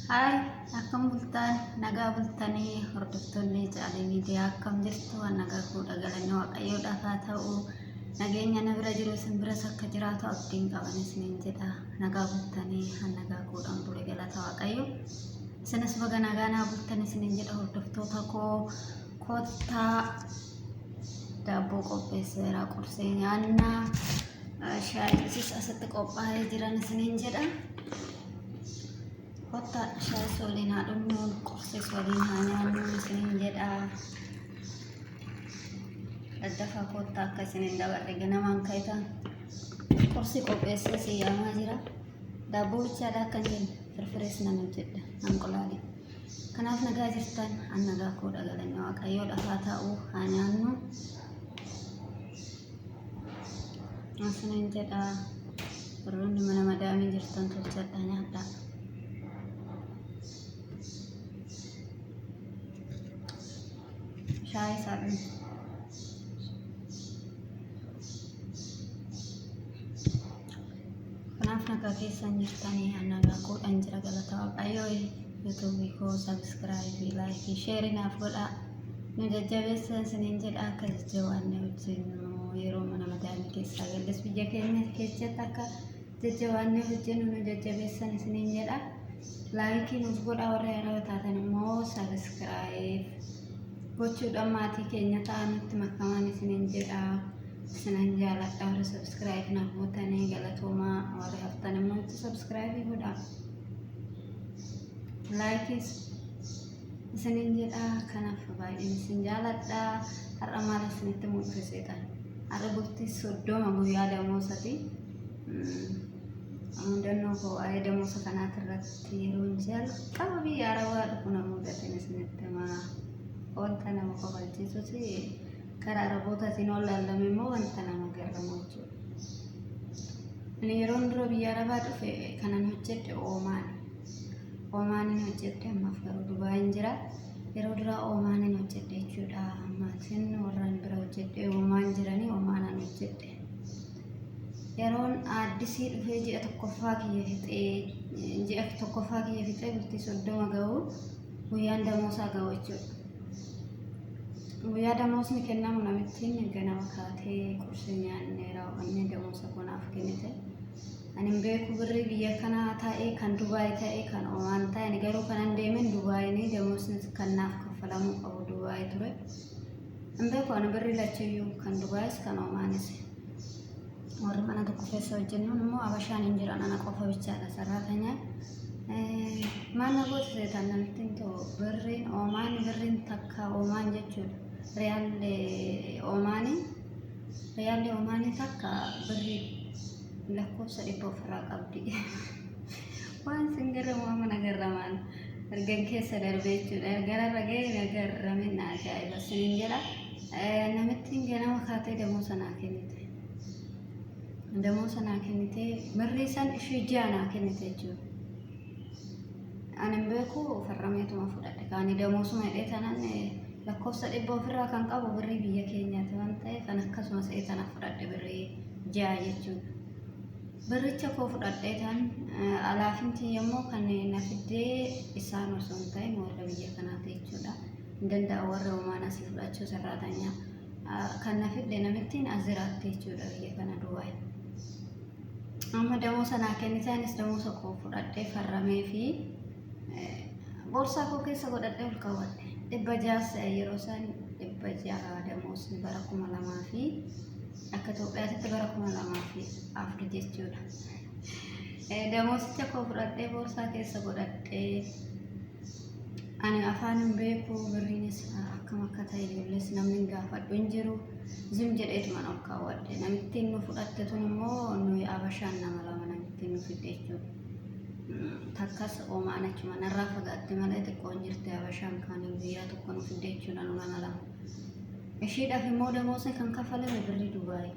Haay akkam bultaan nagaa bultanii hordoftoonni caalii miidiyaa akkam jirtu waan nagaa fuudha galanni waaqayyoo dhafaa ta'u nageenya na bira jiru isin biras akka jiraatu abdiin qaban isiniin jedha nagaa bultanii han nagaa fuudhan bure galata waaqayyo isinis baga nagaa naa bultan isiniin jedha hordoftoota koo kottaa Daabboo qopheesseera qursee nyaannaa shaayiinis asitti qophaa'ee jiran isiniin jedha. Kottaa shaayis waliin haa dhugnu qursees waliin haa nyaannu isiniin jedha. Daddafaa kottaa akka isiniin dabarre ganamaan ka'itan qursii qopheessee si yaamaa jira. Daabboo bichaadha akka hin firfirees nan hojjedha. Anqulaalee. Kanaaf nagaa jirtan an nagaa koodha galanni waaqayyoo dhafaa taa'uu haa nyaannu. Asinan jedha warroonni mana madaamii jirtan tolchadha nyaadha. Shaayii isaa dhumu. Kanaaf nagaa keessan jirtanii nagaa koodhan jira galata waaqayyoo yuutuubii koo sabiskiraayibii laayikii sheerii naaf godhaa nu jajjabeessa isiniin jedha akka jajjabaanne hojjennu yeroo mana madaamii keessaa galles biyya keenya keessatti akka jajjabaanne hojjennu nu jajjabeessan isiniin jedha laayikii nuuf godhaa warri araba taatan immoo sabiskiraayib gochuudhaan maatii keenya ta'anitti makamaan isiniin jedha. Sinan jaaladha warri subscribe na gootanii galatoomaa warri haftan immoo itti subscribe godha. Likes isinin jedha kanaaf baay'een isin jaaladha. Har'a maal isinitti mul'iseetan? Har'a bultii soddoma guyyaa damoosati. Mudannoo koo waa'ee damoosa kanaati irratti yeroon jalqaba biyya arabaa dhufu na mudateen isinitti himaa. Wanta nama kofalchiisuti. Karaa Arabootaatiin yoo laallame immoo wanta nama garramu jechuudha. Ani yeroon dura biyya Arabaa dhufe kanan hojjedhe Oomaan. Oomaaniin hojjedhe ammaaf garuu Dubaayin jira. Yeroo duraa Oomaaniin hojjedhe jechuudha. Maatiin warraan bira hojjedhe Oomaan jiranii Oomaanaan hojjedhe. Yeroon aaddisii dhufee ji'a tokkoffaa kiyya fixee ji'a tokkoffaa kiyya fixee bultii soddoma ga'u Guyyaan damoosaa ga'u jechuudha. Guyyaa damoosni kennamu namittiin ganama kaatee qursi nyaannee raawwannee damoosa kunaaf kennite. Ani hin beeku birrii biyya kanaa ta'ee kan Dubaay ta'ee kan Omaan ta'e ani garuu kanan deemen Dubaayinii damoosni kan naaf kaffalamuu qabu Dubaay ture. Hin beeku ani birri lachuyyuu kan Dubaayis kan Omaanis. Warri mana tokko keessa hojjennuun immoo Abashaan hin jiran ana qofa bichaadha sarraatanya. Maanna goota seetaan namittiin too birriin Omaan birriin takka Omaan jechuudha. Riyaalli Omaanii riyaalli Omaanii takka birrii lakkoofsa dhibba ofirraa qabdi. Waan sin garramu amma na garramaan ergan keessa darbe jechuudha. Ergan irra ga'e na garramin na ajaa'iba sinin jedha. Namittiin ganama kaatee damoo sanaa kennite. Damoo sanaa kennite birrii san ishee ji'a naa kennite jechuudha. Ani hin beeku farrameetuma fudhadhe kaani damoo suma hidhee tanan lakkoofsa dhibba ofirraa kan qabu birrii biyya keenyaati waan ta'eef kan akkasumas ta'e tana fudhadhe birrii ji'a jechuudha. Birricha koo fudhadheetan alaafin tiyya immoo kan na fiddee isaan osoo hin ta'in warra biyya kanaati jechuudha. Hin danda'a warra homaan asii fudhachuu sarraatanya. Kan na fidde namittiin as jiraatti jechuudha biyya kana Dubaay. Amma damoosa naa kennite anis damoosa koo fudhadhee farramee fi boorsaa koo keessa godhadhee ol kaawwadhe. Dhibba jaas yeroo isaan dhibba ja'a damoosni bara kuma lamaa fi Akka Itoophiyaatti bara kuma lamaa fi afur jechuudha. Damoosicha koo fudhadhee boorsaa keessa godhadhee ani afaan hin beeku birriinis akkam akka ta'e ijoollees namni gaafadhu hin jiru zim jedheetu mana ol kaawwadhe namittiin nu fudhatte tun immoo nuyi abashaan nama lama namittiin nu fidde jechuudha. Takkas oomaan achuma narraa fagaatte malee xiqqoon jirti abashaan kaaniin guyyaa tokko nu fidde jechuudha nu nama lama. Ishiidhaaf immoo damoosni kan kaffalame birrii Dubaay.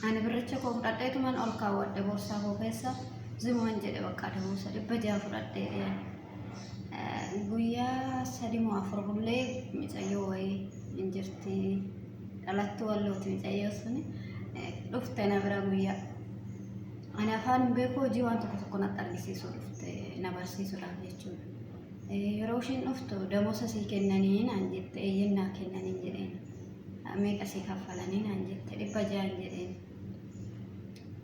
Ani birricha koo fudhadheetuman ol kaawwadhe boorsaa koo keessa zimuman jedhe bakka damoosa dhibba jaha fudhadhee dhiyaan. Guyyaa sadi moo afur bullee micayyoo wayii hin jirti dhalattuu wallooti micayyoo suni dhufte na bira guyyaa. Ani afaan hin beeku hojii waan tokko tokko natti argisiisuu dhufte na barsiisuudhaaf jechuudha. Yeroo isheen dhuftu damoosa sii kennanii naan jette eeyyeen naa kennanii jedheen. Meeqa sii kaffalanii naan jette dhibba ja'an jedheen.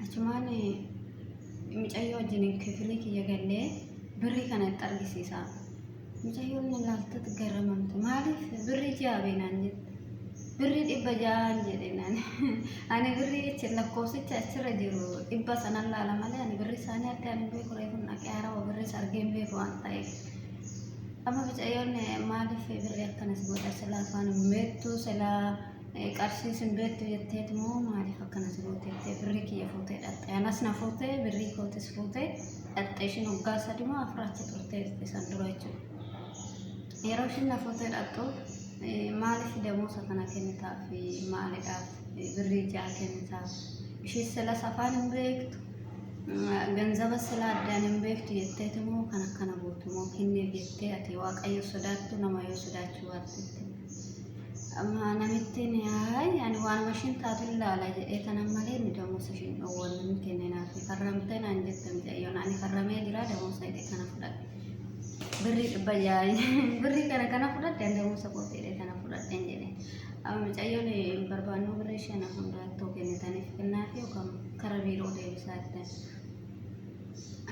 Achumaan micayyoo wajjin kifilii kiyya gallee birrii kana itti argisiisa. Micayyoon na laaltatti garramamte maaliif birrii ja'a beenaan jette. Birrii dhibba ja'aan jedheen ani. Ani birrii achi lakkoofsicha achirra jiru dhibba sanan laala malee ani birrii isaanii akka ani beeku reefun dhaqee harawa birriis argee hin beeku waan ta'eef. Amma bicayyoon maaliif birrii akkanas godha silaa afaan hin beektu silaa eh, qarshiis hin beektu jetteet moo maaliif akkanas goote jettee birrii kiyya fuutee dhaqxe anas na fuutee birrii kootis fuutee dhaqxe ishiin waggaa sadi moo afur achi turtee dhufte san dura jechuudha. Yeroo ishiin na fuutee dhaqxu maaliif deemuusa kana kennitaaf maalidhaaf birrii ja'a kennitaaf ishee silas afaan hin beektu ganzaba sila addaan hin beektu jetteeti immoo kan akkana gootu immoo kennee jettee ati waaqayyo sodaattu nama yoo sodaachuu baattetti amma namittiin yaay ani waanuma ishiin taatu ilaala jedhee tanan malee inni damuusa ishiin dhowwannu hin kenninaaf farramtee naan jette mucayyoon ani farramee jira damuusa jedhee kana fudhadhe. Birrii dhibba ja'a birrii kana kana fudhatte ani ta'umsa qophiidha kana fudhatte hin jedhe. Amma mucayyoon hin barbaannu birrii shana hundaa too kennitaniif kennaa fi yookaan kara biiroo deebisaa jettan.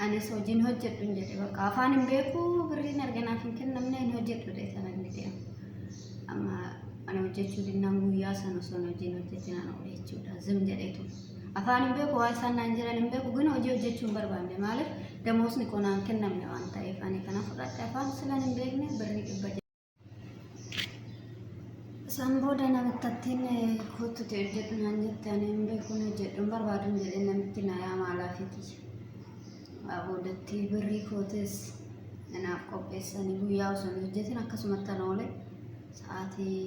Anis hojiin hojjedhu hin jedhe bakka afaan hin beeku birriin arganaaf hin kennamne hin hojjedhu ta'e sana hin jedhe. Amma ana hojjechuu dinnaan guyyaa sana osoo hin hojiin hojjetinaan oole jechuudha zim jedhee ture. Afaan hin beeku waa isaan naan jiran hin beeku gina hojii hojjechuu hin barbaanne maaliif damoosni koo naan kennamne waan ta'eef ani kana fudhadhe afaan silan hin beekne birrii dhibba ja'a. Isaan booda namittattiin kottuti hojjedhu naan jette ani hin beeku hin hojjedhu hin barbaadu hin jedhe namitti na yaama alaafiiti. Waa boodatti birrii kootis naaf qopheessanii guyyaa osoo hin hojjetin akkasumatti ana oole sa'aatii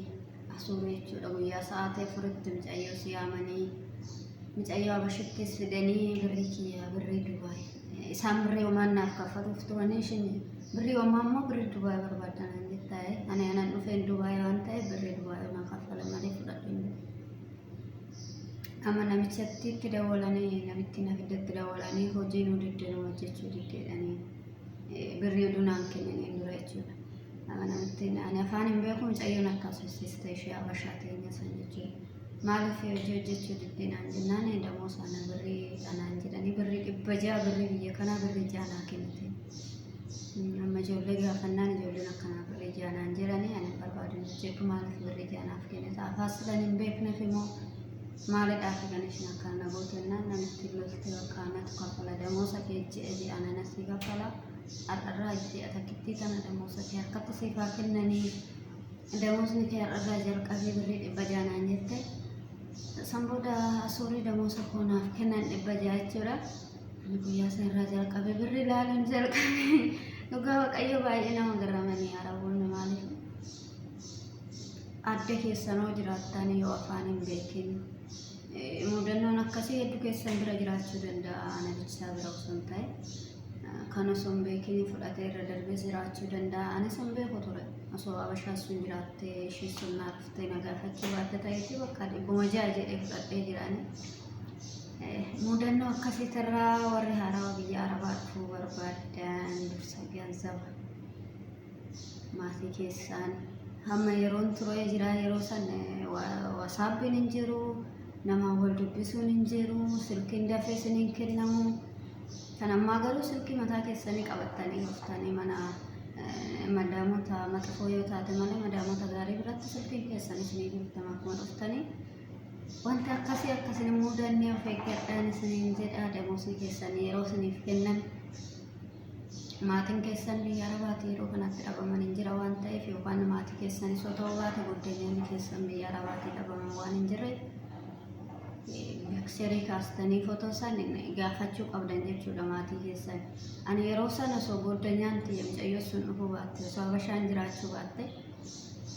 asuurii jechuudha guyyaa sa'aatii afuritti micayyoo siyaamanii micayyoo abashittis fidanii birrii kiyyaa birrii dubaay isaan birrii homaan naaf kaffaluuf turanii ishin birrii homaa immoo birrii dubaay barbaadan hin jettaa'e ani anan dhufeen dubaay waan ta'eef birrii dubaay homaa kaffala malee fudhadhu hin jedhe. Amma namichatti itti dawwalanii namittiin abidda itti dawwalanii hojii nu diddee nu hojjechuu diddeedhanii birrii oduu naan kennaniin dura jechuudha. Amma namittiin ani afaan hin beeku mucayyoon akkas hojjiste ishee abashaa teenya san jechuudha. Maaliif hojii hojjechuu diddee naan jennaan damoo sana birrii dhanaan jedhanii birrii dhibba ja'a birrii biyya kanaa birrii ja'a naa kennite. Amma ijoollee gaafannaan ijoolleen akkanaa birri ijaa naan jedhanii ani barbaadu hin jedhu maaliif birri ijaa naaf kennita afaas silan hin beekneef immoo maalidhaaf kan isin akkaan na gootannaan namitti lolti bakka anatu kaffala damoosa kee ji'a ji'a nana sii kaffala har'arraa ji'a takkittii tana damoosa kee harkatti siif haa kennanii damoosni kee har'arraa jalqabee birri dhibba ijaa naan jette san booda suurri damoosa koo naaf kennan dhibba ijaa jechuudha. Ani guyyaa san irraa jalqabe birri ilaaluun jalqabe. Dhugaa Waaqayyo baay'ee nama garramanii Araboonni maaliif adda keessanoo jiraattan yoo afaan hin beekin eh, mudannoon akkasii hedduu keessan bira jiraachuu danda'a ana bichaa bira osoo hin ta'e eh, kan osoo hin beekin fudhatee irra darbee jiraachuu danda'a anis hin beeku ture osoo abashaa sun jiraattee ishii sun naaf ta'e na gaafachuu baatte ta'eetti bakka dhibbuma ja'a jedhee fudhadhee jiraanii. Muudannoo akkasiitirraa warri haarawaa biyya arabaa dhufuu barbaadan dursa ganzaba maatii keessaan hamma yeroon turee jira yeroo san wasaappiin hin jiru nama wal dubbisuun hin jiru silkiin dafee isin hin kennamu kan ammaa garuu silkii mataa keessanii qabattanii dhuftanii mana madaamota maxifoo yoo taate malee madaamota gaarii biratti silkiin keessan isinii jirtama akkuma dhuftanii Wanti akkasii akka isin hin mudanne of eeggadhaan isiniin jedha damoosni keessan yeroo isiniif kennan maatiin keessan biyya arabaati yeroo kanatti dhabaman hin jira waan ta'eef yookaan maatii keessanis yoo ta'uu baate goddenyaan keessan biyya arabaati dhabaman waan hin jirre seerii kaastanii footoo san gaafachuu qabdan jechuudha maatii keessan. Ani yeroo sana osoo goddenyaan tiyya mucayyoo sun dhufuu baatte osoo habashaan jiraachuu baatte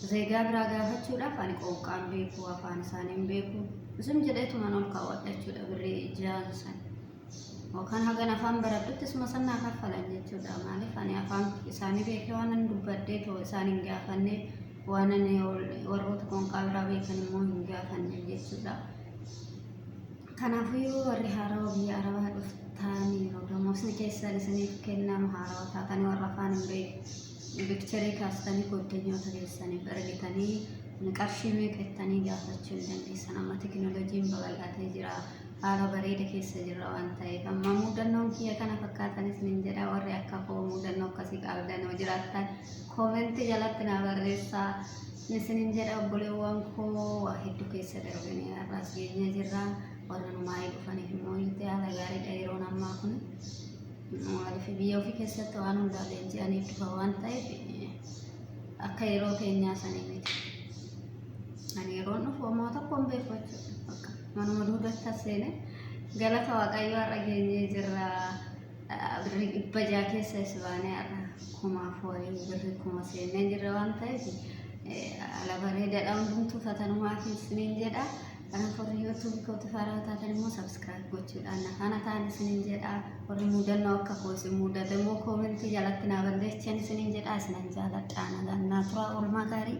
Zeegaa biraa gaafachuudhaaf ani qooqqaan beeku afaan isaanii hin beeku. Isin jedheetuman ol kaawwadha jechuudha birrii ji'aan san. Yookaan hagan afaan baradhutti isuma san naa kaffalan jechuudha. Maaliif ani afaan isaanii beekee waan ani dubbadhee too isaan hin gaafanne waan ani warroota qooqqaa biraa beekan immoo hin gaafanne jechuudha. Kanaafuu warri haarawa biyya arabaa dhuftaaniiru. Damoosni keessan isiniif kennamu haarawa taatanii warra afaan hin beeku. Picture kaastanii goddanyoota keessaniif ergitanii qarshii meeqa jettanii gaafachuu hin dandeessan. Amma tekinooloojiin babal'atee jira. Haala bareeda keessa jirra waan ta'eef. Amma muudannoon kiyya kana fakkaatanis nin jedha. Warri akka koo muudannoo akkasii qabdan yoo jiraattan koomentii jalatti naa barreessaa. Isinin jedha obboleewwan koo waa hedduu keessa darbinee har'aas geenyee jirra. Warra numaayii dhufaniif immoo itti haala gaariidha yeroon ammaa kun. Maaliif biyya ofii keessatti waan hundaa leenji'anii dhufa waan ta'eef akka yeroo keenyaa sanii miti. Ani yeroon dhufu homaa tokko hin beeku jechuudha. Bakka manuma duudatti as seene galata waaqayyoo har'a geenyee jirra. Birrii dhibba jaha keessa is baanee har'a kumaaf wayii birrii kuma seennee jirra waan ta'eef ala bareedaadha hundumtuu fatanumaa keessaniin jedha. Kanaaf warri YouTube kootiif haaraa taatan immoo subscribe gochuudhaan na faana ta'an isiniin jedha. Warri mudannoo akka koo isin mudate immoo koomentii jalatti naa barreessan isiniin jedha. Isinan jaaladha. Nagaan naa turaa oolmaa gaarii.